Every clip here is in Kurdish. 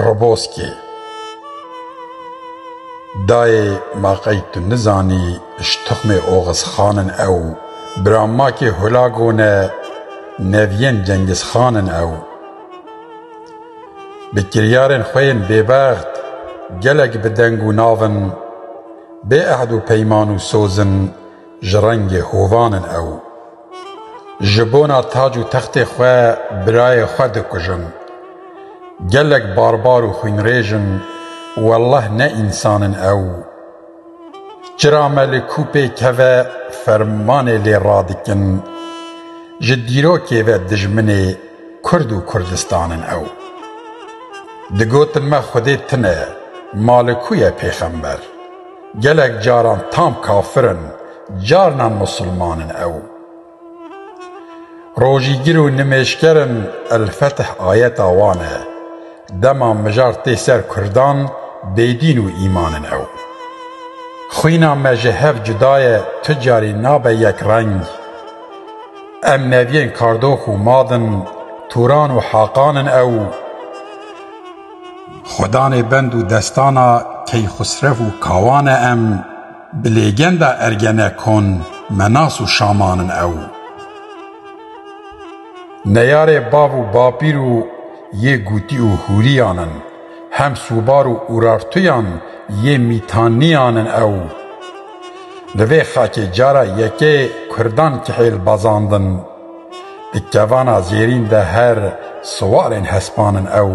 Roboskî, Dayê ma qey tu nizanî ji tuxmê Oxizxan in ew, bira ma kê Hulago ne, neviyên Cengizxan in ew. Bi kiryarên xwe yên bêbext gelek bi deng û nav in, bê ehd û peyman û soz in, ji rengê hovan in ew. Ji bona tac û textê xwe birayê xwe dikujin. Gelek barbar û xwînrêj in welleh ne însan in ew. Çira me li kû pê keve fermanê lê radikin. Ji dîrokê ve dijminê Kurd û Kurdistan in ew. Digotin me xwedê tune, ma li kû ye pêxember? Gelek caran tam kafir in, carnan musulman in ew. Rojîgir û nimêjker in El-Fetih ayeta wan e. Dema mijar tê ser kurdan bêdîn û îman in ew. Xwîna me ji hev cuda ye tu carî nabe yek reng. Em neviyên Kardox û Madin, Turan û Haqan in ew. Xwedanê bend û destana Keyxusrev û Kawan e em bi lêgenda Ergenekon me nas û şamanin ew. Neyarê bav û bapîr û yê Gûtî û Hûrîyan in, hem sûbar û Urartuyan yê Mîtaniyan in ew. Li vê xakê cara yekê Kurdan kihêl bazandin. Di kevana zêrîn de her siwarên hespan in ew.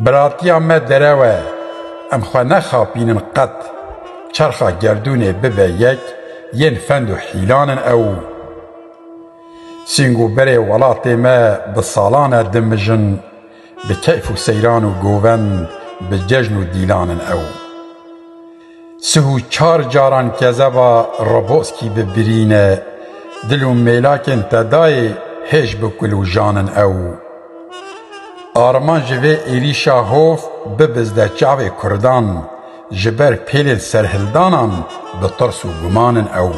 Biratiya me derew e, em xwe nexapînin qet, çerxa gerdûnê bibe yek, yên fend û hîlan in ew. Sîng û berê welatê me bi salan e dimijin, bi keyf û seyran û govend, bi cejn û dîlan in ew. Sih û çar caran kezeva Roboskî bi birîn e, dil û mêlakên tedayê hêj bi kulûjan in ew. Arman ji vê êrîşa hov bibizde çavê kurdan, ji ber pêlên serhildanan bi tirs û guman in ew.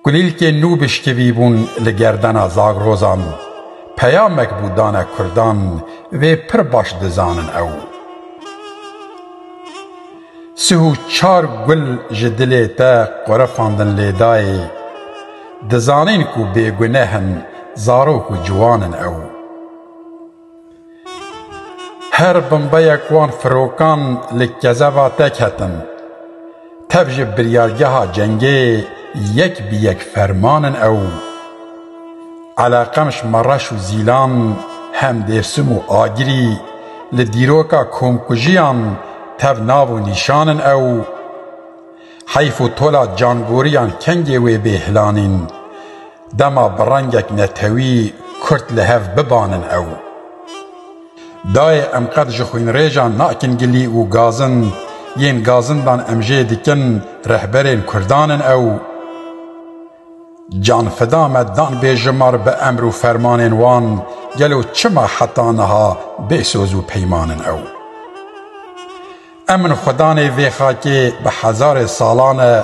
Kulîlkên nû bişkivî bûn li gerdena Zagrozan. Peyamek bû dane Kurdan vê pir baş dizanin ew. Sih û çar gul ji dilê te qurifandin lêdayê. Dizanîn ku bêguneh in, zarok û ciwan in ew. Her bombeyek wan firokan li kezeva te ketin. Tev ji biryargeha cengê yek bi yek ferman in ew. Eleqemş, Mereş û Zîlan hem Dêrsim û Agirî li dîroka komkujiyan tev nav û nîşan in ew. Heyf û tola cangoriyan kengê wê bê hilanîn. Dema bi rengek netewî Kurd li hev bibanin ew. Dayê em qet ji xwînrêjan nakin gilî û gazin yên gazindan em jê dikin rehberên Kurdan in ew. Canfida me dan bê ji mar bi emr û fermanên wan gelo çima heta niha bê soz û peyman in ew. Emin xwedanê vê xakê bi hezarê salan e,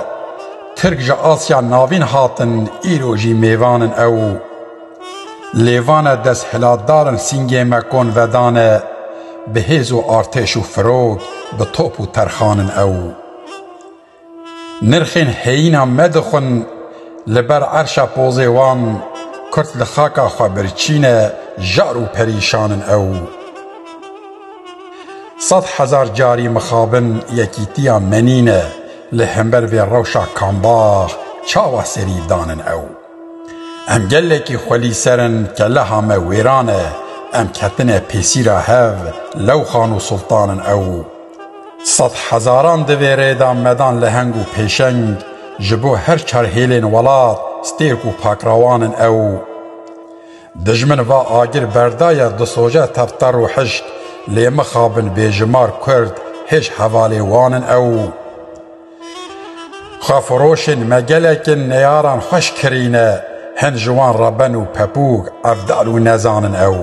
Tirk ji Asya Navîn hatin îro jî mêvan in ew. Lêvan e desthilatdar in sîngê me kon vedane, bi hêz û artêş û firok, bi top û terxan in ew. Nirxên heyîna me dixwin li ber erşa pozê wan Kurd li xaka xwe birçîne jar û perîşan in ew sed hezar carî mixabin yekîtiya me nîne li hember vê rewşa kambax çawa serîvdan in ew. Em gelekî xwelî ser in ke leha me wêran e, em ketine pêsîra hev lewxan û sultan in ew. Sed hezaran di vê rê de medan leheng û pêşeng ji bo her çar hêlên welat stêrk û pakrawan in ew. Dijmin va agir berdaye di soje tev terr û hişk lê mixabin bêjimar kurd hêj hevalê wan in ew. Xwefiroşên me gelekên neyaran xweş kirîne, hin ji wan re ben û pepûg, evdal û nezan in ew.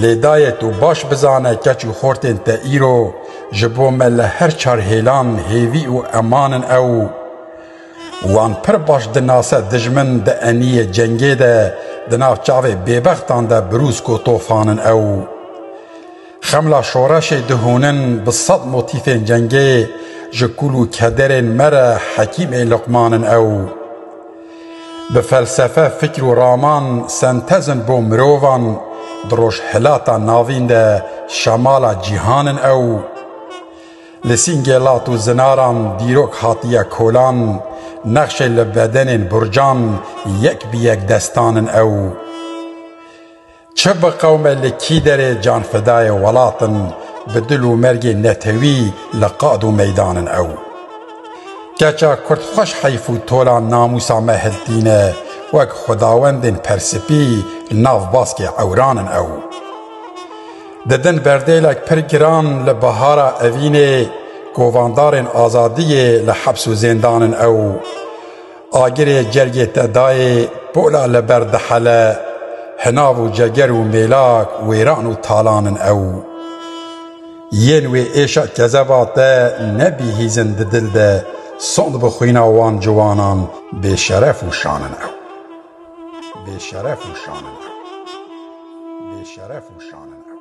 Lê dayê tu baş bizane keç û xortên te îro ji bo me li her çar hêlan hêvî û eman in ew. Wan pir baş dinase dijmin di eniyê cengê de di nav çavê bêbextan de birûsk û tofan in ew. Xemla şoreşê dihûnin bi sed motîfên cengê ji kul û kederên me re hekîm ê Luqman in ew. Bi felsefe, fikr û raman sentez in bo mirovan di rojhilata navîn de şemala cîhan in ew. Li sîngê lat û zinaran dîrok hatiye kolan, nexşê li bedenên burcan yek bi yek destan in ew. Çi bi qewme li kî derê canfedayê welat in, bi dil û mergê netewî li qad û meydan in ew. Keça Kurd xweş heyf û tola namûsa me hiltîne, wek xwedawendên persipî li nav baskê ewran in ew. Didin berdêlek pir giran li bihara evînê, kovandarên azadiyê li heps û zêndan in ew. Agirê cergê te dayê pola li ber dihele Hinav û ceger û mêlak wêran û talan in ew Yên wê êşa kezeba te nebihîzin di dil de Sond bi xwîna wan ciwanan bêşeref û şan in ew Bêşeref û şan in ew Bêşeref û şan in ew.